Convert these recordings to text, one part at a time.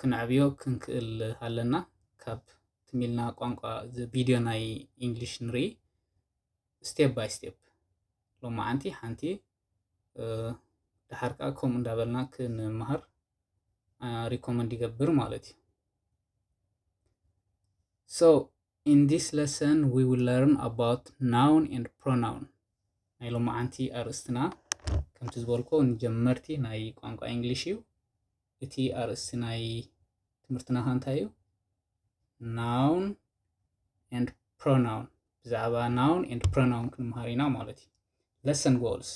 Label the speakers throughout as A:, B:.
A: ክነዕብዮ ክንክእል ኣለና ካብ ትም ኢልና ቋንቋ እዚ ቪድዮ ናይ ኢንግሊሽ ንርኢ ስቴፕ ባይ ስቴፕ ሎማዓንቲ ሓንቲ ደሓር ከዓ ከምኡ እንዳበልና ክንመሃር ሪኮመንድ ይገብር ማለት እዩ So in this lesson we will learn about noun and pronoun ናይ ሎማዓንቲ ኣርእስትና ከምቲ ዝበልኮ ንጀመርቲ ናይ ቋንቋ እንግሊሽ እዩ እቲ ኣርእስቲ ናይ ትምህርትና ከ እንታይ እዩ? ናውን ኤንድ ፕሮናውን ብዛዕባ ናውን ኤንድ ፕሮናውን ክንምሃር ኢና ማለት እዩ። ለሰን ጎልስ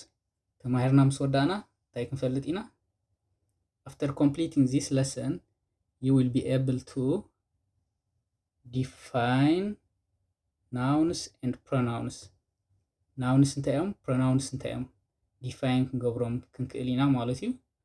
A: ተማሂርና ምስ ወዳእና እንታይ ክንፈልጥ ኢና? After completing this lesson, you will be able to define nouns and pronouns. ናውንስ እንታይ እዮም ፕሮናውንስ እንታይ እዮም ዲፋይን ክንገብሮም ክንክእል ኢና ማለት እዩ።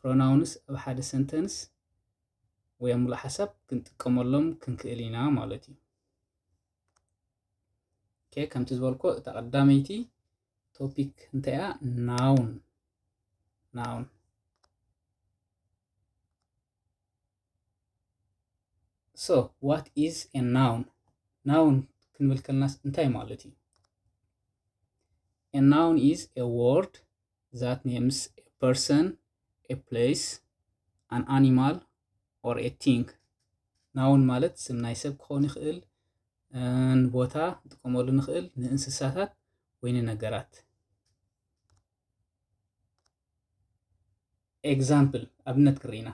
A: ፕሮናውንስ ኣብ ሓደ ሰንተንስ ወይ ኣብ ምሉእ ሓሳብ ክንጥቀመሎም ክንክእል ኢና ማለት እዩ። ኦኬ ከምቲ ዝበልኮ እታ ቀዳመይቲ ቶፒክ እንታይ እያ? ናውን ናውን ሶ ዋት ኢዝ ኤ ናውን ናውን ክንብል ከለናስ እንታይ ማለት እዩ? ኤ ናውን ኢዝ ኤ ወርድ ዛት ኔምስ ኤ ፐርሰን፣ ኤ ፕለይስ፣ ኣን ኣኒማል ኦር ኤ ቲንግ። ናውን ማለት ስም ናይ ሰብ ክኸውን ይኽእል፣ ንቦታ ንጥቀመሉ ንኽእል፣ ንእንስሳታት ወይ ንነገራት። ኤግዛምፕል ኣብነት ክርኢ ኢና።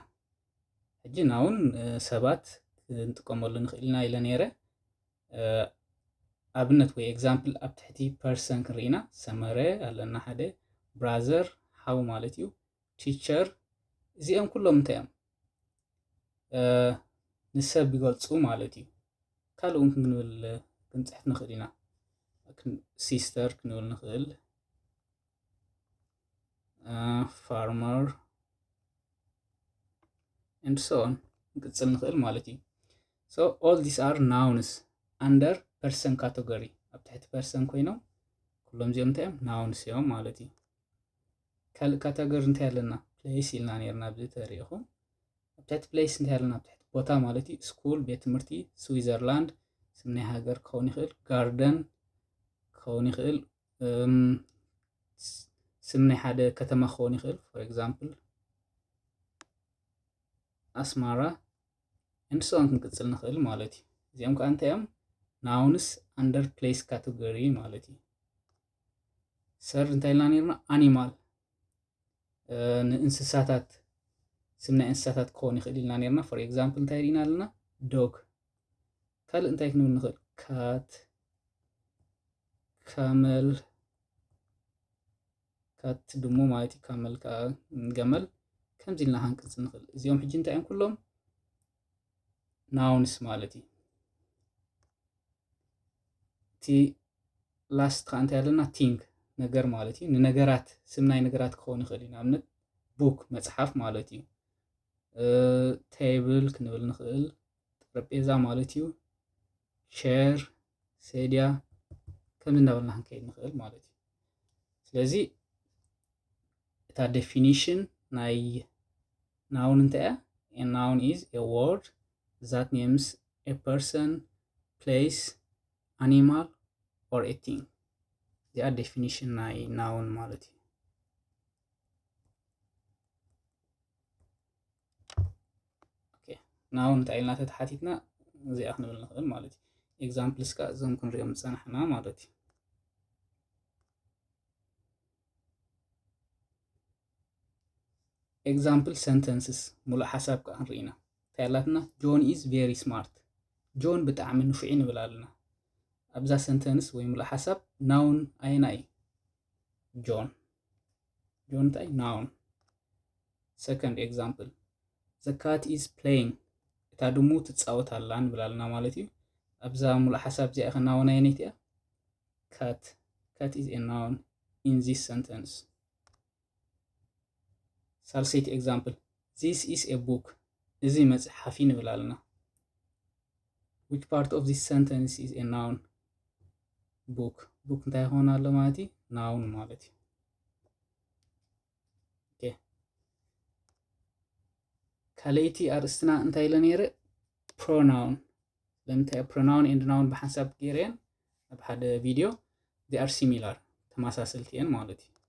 A: ሕጂ ናውን ሰባት ክንጥቀመሉ ንኽእል ኢና ኢለ ነይረ። ኣብነት ወይ ኤግዛምፕል ኣብ ትሕቲ ፐርሰን ክንርኢ ኢና። ሰመረ ኣለና ሓደ፣ ብራዘር ሓው ማለት እዩ፣ ቲቸር እዚኦም ኩሎም እንታይ እዮም? ንሰብ ይገልፁ ማለት እዩ። ካልእ እውን ክንብል ክንፅሕፍ ንኽእል ኢና። ሲስተር ክንብል ንኽእል። ፋርመር and so on ንቅጽል ንኽእል ማለት እዩ so all these are nouns under person category ኣብ ትሕቲ person ኮይኖም ኩሎም እዚኦም እንታይ እዮም nouns እዮም ማለት እዩ ካልእ ካተጎሪ እንታይ ኣለና ፕሌስ ኢልና ነርና ኣብዚ ተሪኢኹም ኣብ ትሕቲ ፕሌስ እንታይ ኣለና ኣብ ትሕቲ ቦታ ማለት እዩ ስኩል ቤት ትምህርቲ ስዊዘርላንድ ስም ናይ ሃገር ክኸውን ይኽእል ጋርደን ክኸውን ይኽእል ስም ናይ ሓደ ከተማ ክኸውን ይኽእል ፎር ኤግዛምፕል ኣስማራ ኤንድ ሶን ክንቅፅል ንኽእል ማለት እዩ እዚኦም ከዓ እንታይ እዮም ናውንስ ኣንደር ፕሌስ ካቴጎሪ ማለት እዩ ሰር እንታይ ኢልና ነርና ኣኒማል ንእንስሳታት ስም ናይ እንስሳታት ክኸውን ይኽእል ኢልና ነርና ፎር ኤግዛምፕል እንታይ ርኢና ኣለና ዶግ ካልእ እንታይ ክንብል ንኽእል? ካት ካመል ካት ድሙ ማለት እዩ። ካመል ከዓ ገመል ከምዚ ኢልና ሃንቀፅ ንኽእል። እዚኦም ሕጂ እንታይ እዮም ኩሎም ናውንስ ማለት እዩ። እቲ ላስት ከዓ እንታይ ኣለና ቲንግ ነገር ማለት እዩ። ንነገራት ስም ናይ ነገራት ክኸውን ይኽእል እዩ። ንኣብነት ቡክ መፅሓፍ ማለት እዩ። ቴብል ክንብል ንኽእል ጠረጴዛ ማለት እዩ ሸር ሴድያ ከም እናበልና ክንከይድ ንኽእል ማለት እዩ ስለዚ እታ ዴፊኒሽን ናይ ናውን እንታይ እያ ናውን ኢዝ ኤ ወርድ ዛት ኔምስ ኤ ፐርሰን ፕሌስ ኣኒማል ኦር ኤ ቲንግ እዚኣ ዴፊኒሽን ናይ ናውን ማለት እዩ ንኣብ እንታይ ኢልና ተተሓቲትና እዚኣ ክንብል ንኽእል ማለት እዩ ኤግዛምፕልስ ከዓ እዞም ክንሪኦም ዝፀናሕና ማለት እዩ ኤግዛምፕል ሰንተንስስ ሙሉእ ሓሳብ ከዓ ንርኢ ኢና እንታይ ኣላትና ጆን ኢዝ ቬሪ ስማርት ጆን ብጣዕሚ ንፉዒ ንብል ኣለና ኣብዛ ሰንተንስ ወይ ሙሉእ ሓሳብ ናውን ኣየና እዩ ጆን ጆንታይ ናውን ሰከንድ ኤግዛምፕል ዘ ካት ኢዝ ፕለይንግ እታ ድሙ ትፃወት ኣላ ንብል ኣለና ማለት እዩ ኣብዛ ሙሉእ ሓሳብ እዚኣ ኢኸ ናውን ኣየነይቲ እያ ካት ካት ኢዝ ኤ ናውን ኢን ዚስ ሰንተንስ ሳልሰይቲ ኤግዛምፕል ዚስ ኢስ ኤ ቡክ እዚ መፅሓፍ እዩ ንብል ኣለና Which part of this sentence is a noun? book book እንታይ ይኸውን ኣሎ ማለት እዩ ናውን ማለት እዩ ኦኬ ካልኣይቲ ኣርእስትና እንታይ ኢለ ነይረ ፕሮናውን ስለምንታይ ፕሮናውን ኤንድ ናውን ብሓንሳብ ገይረየን ኣብ ሓደ ቪድዮ ዚኣር ሲሚላር ተመሳሰልቲ እየን ማለት እዩ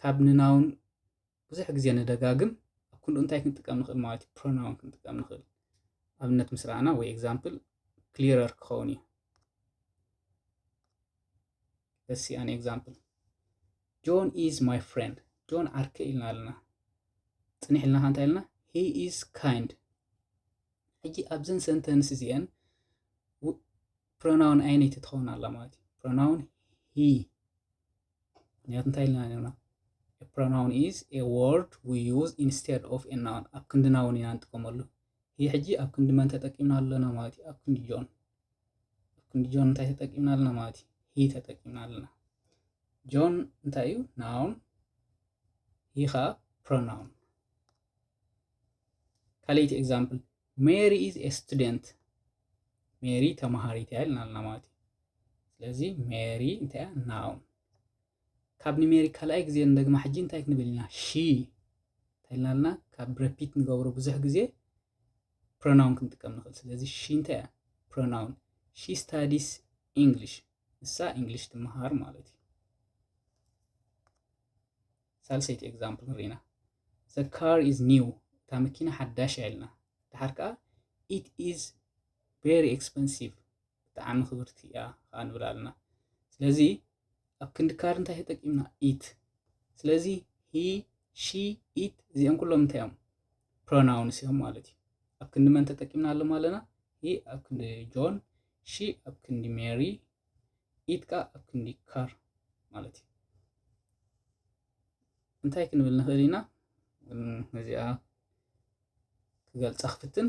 A: ካብ ንናውን ብዙሕ ግዜ ንደጋግም ኣብ ክንድኡ እንታይ ክንጥቀም ንኽእል ማለት እዩ ፕሮናውን ክንጥቀም ንኽእል ኣብነት ምስ ረኣና ወይ ኤግዛምፕል ክሊረር ክኸውን እዩ let's see an example ጆን ኢዝ ማይ ፍሬንድ ጆን ዓርከ ኢልና ኣለና ፅኒሕ ኢልና ከ እንታይ ኢልና ሂ ኢዝ ካይንድ ሕጂ ኣብዘን ሰንተንስ እዚአን ፕሮናውን ኣይነይቲ ትኸውን ኣላ ማለት እዩ ፕሮናውን ሂ ምክንያቱ እንታይ ኢልና ነርና ፕሮናውን ኢዝ ኤ ወርድ ዊ ዩዝ ኢንስቴድ ኦፍ ኤ ናውን ኣብ ክንዲ ናውን ኢና ንጥቀመሉ ይህ ሕጂ ኣብ ክንዲ መን ተጠቂምና ኣለና ማለት እዩ ኣብ ክንዲ ጆን ኣብ ክንዲ ጆን እንታይ ተጠቂምና ኣለና ማለት እዩ ሂ ተጠቂምና ኣለና ጆን እንታይ እዩ ናውን ሂ ከዓ ፕሮናውን ካልእቲ ኤግዛምፕል ሜሪ ኢዝ ኤ ስቱደንት ሜሪ ተማሃሪት እያ ኢልና ኣለና ማለት እዩ ስለዚ ሜሪ እንታይ እያ ናውን ካብ ንሜሪ ካልኣይ ግዜ ንደግማ ሕጂ እንታይ ክንብል ኢና ሺ እንታይ ኢልና ኣለና ካብ ረፒት ንገብሮ ብዙሕ ግዜ ፕሮናውን ክንጥቀም ንኽእል ስለዚ ሺ እንታይ እያ ፕሮናውን ሺ ስታዲስ ኢንግሊሽ ንሳ ኢንግሊሽ ትመሃር ማለት እዩ ሳልሰይቲ ኤግዛምፕል ንርኢና The car is new እታ መኪና ሓዳሽ እያ ኢልና ደሓር ከኣ It is very expensive ብጣዕሚ ክብርቲ እያ ከኣ ንብል ኣለና ስለዚ ኣብ ክንዲ ካር እንታይ ተጠቂምና it ስለዚ he she it እዚኦም ኩሎም እንታይ እዮም ፕሮናውንስ እዮም ማለት እዩ ኣብ ክንዲ መን ተጠቂምና ኣለማ ኣለና ሂ ኣብ ክንዲ ጆን ሺ ኣብ ክንዲ ሜሪ ኢድካ ኣብ ክንዲ ካር ማለት እዩ እንታይ ክንብል ንኽእል ኢና እዚኣ ክገልጻ ክፍትን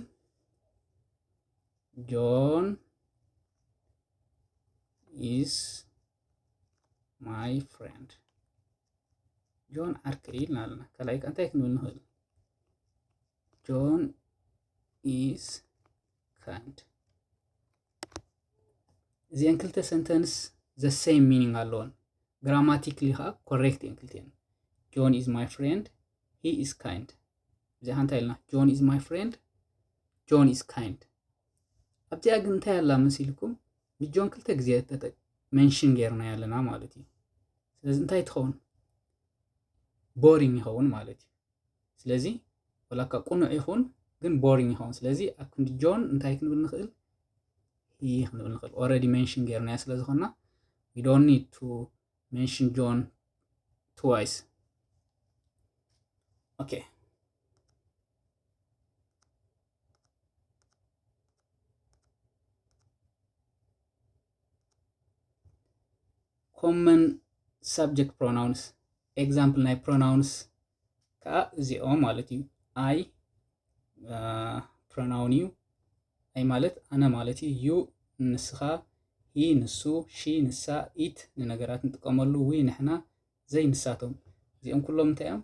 A: ጆን ኢስ ማይ ፍሬንድ ጆን ዓርከይ ኢልና ኣለና ካልኣይ እንታይ ክንብል ንኽእል ጆን ኢዝ ካይንድ እዚአን ክልተ ሰንተንስ ዘሰይም ሚኒንግ ኣለዎን ግራማቲክሊ ከዓ ኮሬክት እየን ክልቲአን ጆን ኢዝ ማይ ፍሬንድ ሂ ኢዝ ካይንድ እዚኣ ሓንታ ኢልና ጆን ኢዝ ማይ ፍሬንድ ጆን ኢዝ ካይንድ ኣብዚኣ ግን እንታይ ኣላ መሲልኩም ንጆን ክልተ ግዜ ተጠቅ መንሽን ጌርና ኣለና ማለት እዩ ስለዚ እንታይ ትኸውን ቦሪንግ ይኸውን ማለት እዩ ስለዚ ወላ እኳ ቅኑዕ ይኹን ግን ቦሪንግ ይኸውን። ስለዚ ኣብ ክንዲ ጆን እንታይ ክንብል ንኽእል? ሂ ክንብል ንኽእል። ኦልሬዲ ሜንሽን ጌርናዮ ስለ ዝኾንና ዊ ዶንት ኒድ ቱ ሜንሽን ጆን ትዋይስ። ኦኬ ኮመን ሳብጀክት ፕሮናውንስ ኤግዛምፕል ናይ ፕሮናውንስ ከዓ እዚኦም ማለት እዩ ኣይ ፕሮናውን እዩ ኣይ ማለት ኣነ ማለት እዩ ዩ ንስኻ ሂ ንሱ ሺ ንሳ ኢት ንነገራት ንጥቀመሉ ዊ ንሕና ዘይ ንሳቶም እዚኦም ኩሎም እንታይ እዮም